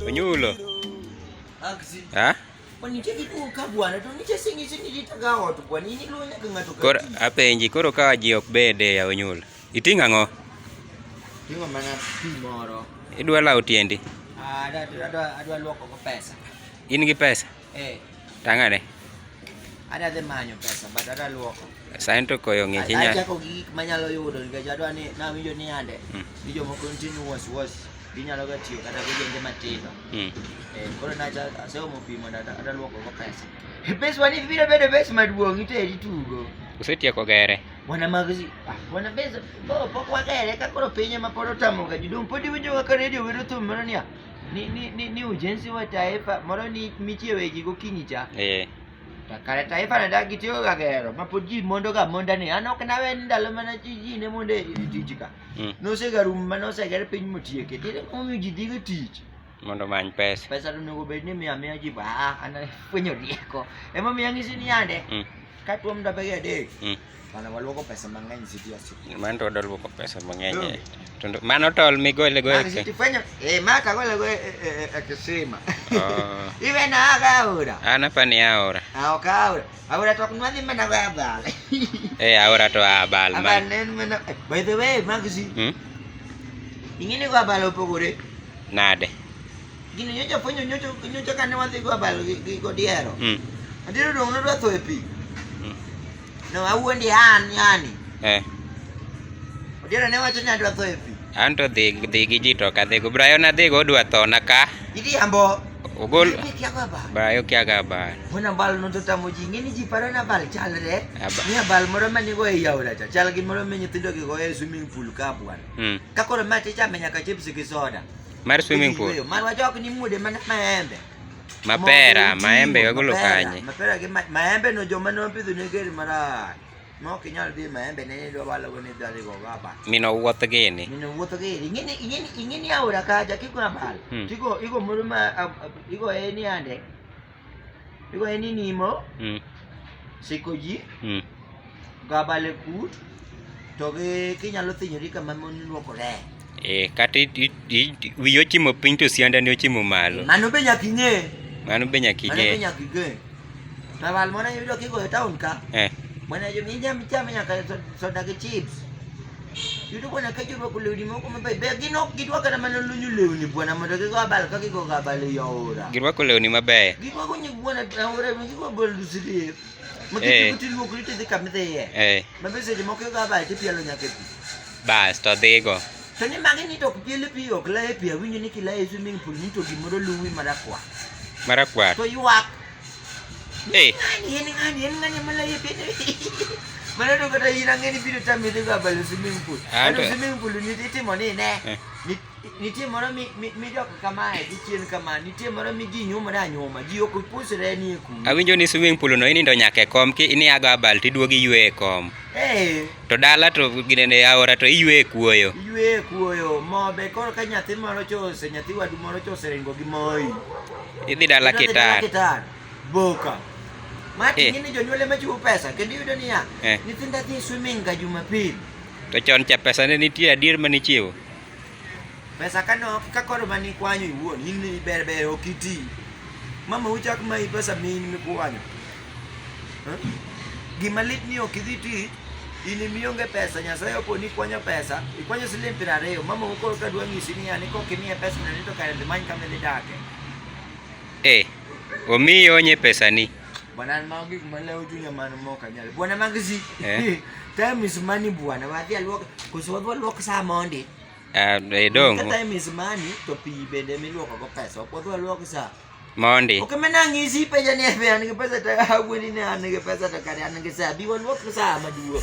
Onyulo. Ha? Koro apenji koro ka ji ok bede ya Onyulo. Iting'o ang'o? Ting'o mana pi moro. Idwa lawo tiendi? Ah, adwa luoko go pesa. In gi pesa? Eh. Tang'ane? Adwa dhi manyo pesa but adwa luoko. Sain to koyo ng'ich inya. Achako gi gik manyalo yudo nikech adwa ni nawinjo ni ande. Hmm. Ni jomoko nitie ni was was ginyalo ga tiyo kata gi jende matindo. Hmm. Eh, koro nacha aseomo pi mondo adwa luoko go pesa. Pesa wani biro bedo pesa maduong' iteri tugo. Usetieko gere? wana magzi ah, wana beza bo pok wagere ka koro piny ema pod otamoga ji dong pod iwinjoga ka redio wero thum moro niya ni, ni, ni, ni ujenzi wa taifa moro ni mitie weji gokinyi cha eh. Ta- kare taifa ne dagi tiyoga gero ma pod ji mondoga monda ni an ok nawe ni ndalo mana ji ji ne mondo e e tich ka Mm. nosegarum ma noseger piny motieke tinde momiyo ji dhiga tich mondo omany pesa pesa to onego bed ni miya miya ji ba ah, an fwenyo rieko ema miya ng'isi ni yande mm. ka tuom ndabege adek mm. mana waluoko pesa mang'eny siti ositi mano to wadwa luoko pesa mang'eny mm. to mano tol migole go e siti fwenyo eh ma ka gole go e, e, e kisima oh. iwe na aga aora ana pa ni aora ah ok aora aora to kunwa dhi mana go abal eh aora to abal ma abal nen mana by the way magzi hmm? ingine go abal opogore Nade? Gini nyocha fwenyo nyocha nyocha kane wadhi go abal gi gi godiero. Mm. Adiero dong nodwa tho e pi. Mm. No awuondi an yani. Eh. Odiero ne wacho ni adwa tho e pi. An to dhi dhi gi ji to kadhi go. Brayo na dhi go odwa tho na ka. Idi ambo. Ogol. Idi kia go abal. Brayo kia go abal. Mwana bal no to tamo ji ngini ji paro na bal chalre. Abal. Ni abal moro manigo e yaura cha. Chal gi moro me nyithindo gi go e swimming pool ka bwana. Mm. Ka koro ma tichame nyaka chips gi soda. Mar swimming pool. Marwa jok ni mude man maembe. Mapera, maembe wagolo kanye. Mapera gi maembe no joma no pidho ne geri marach. No kinyal bi maembe ne ni dwalo go ni dali go baba. Mino wuoth gini. Mino wuoth gini. Ingini ingini ingini aura kaja kiko abal. Hmm. Tiko iko muru ma iko eni ande. Iko ni nimo. Mm. Siko ji. Mm. Gabale kut. To gi kinyalo thinyori kama mon luokore. Eh, kata wiyo chimo piny to sianda ne ochimo malo. Mano be nyaka ing'e. Mano be nyaka ing'e. Mano be nyaka ing'e. Tawal mwana yudo kigo e town ka. Eh. Mwana jo mi jam chame nyaka soda gi chips. Yudo ko na ka jiro ko lewni moko mabeyo beyo gin ok gidwa kata mana lunyo lewni bwana mondo gigo abal ka gigo abal e aora. Girwako lewni mabeyo. Girwako nyig bwana e aora gigo abal dusiri. Makiti kuti luok rito dhi kama idhi iye. Eh. Mabe seche moko gigo abal tipielo nyaka e pi. Bas to dhigo. To ni magi ni to ok piel e pi ok la e pi awinjo ni kila e swimming pool ni to gimoro luwi marakwar. Marakwar. To ywak. Eh. Yan nga, yan nga niya malayipin. Manano ka tayo nang ini video tayo dito ka balo swimming pool. Ah, ano swimming pool ni titi mo ni ne. Eh. Ni titi mo mi mi mi dok kama e di chien kama ni titi mo mi gi nyuma da nyuma gi ok pus re ni ku. Awinjo ni swimming pool no ini ndo nyake kom ki ini aga bal ti duogi yue kom. Eh. To dala to ginene yaora to iywe kuoyo. Iywe kuoyo mobe koro ka nyathi moro chose nyathi wadu moro chose ringo gi moi. Idhi dala kitar. Kitar. Boka. Mati eh. ni jonyuol ema chiwo pesa kendo iyudo niya eh. nyithinda dhi swimming ga Jumapil. To chon cha pesa ne nitie adier ma nichiwo. Pesa kanok ka koro mani kwanyo iwuon in ni ber ber ok iti. Mama uchak ma i pesa min mi kwanyo. Eh? Gima lit ni ok idhi ti in imionge pesa nyasaye opo ni kwanyo pesa ikwanyo siling piero ariyo mama ukoro ka dwa ng'isi ni ani kok imiye pesa na nito kare dhi many kama idhi dake. Eh, omiyi onye pesa ni. bwana magi kumala ujunya manu moka nyale bwana magzi eh? time is money bwana wathi alwok kusobo alwok sa monde ah eh dong time is money to pi bende mi lwoko go pesa okodho alwok sa monde okay mena ngisi pe jani pe an ke pesa ta hawini ne an ke pesa ta kare an ke sa bi walwok sa maduo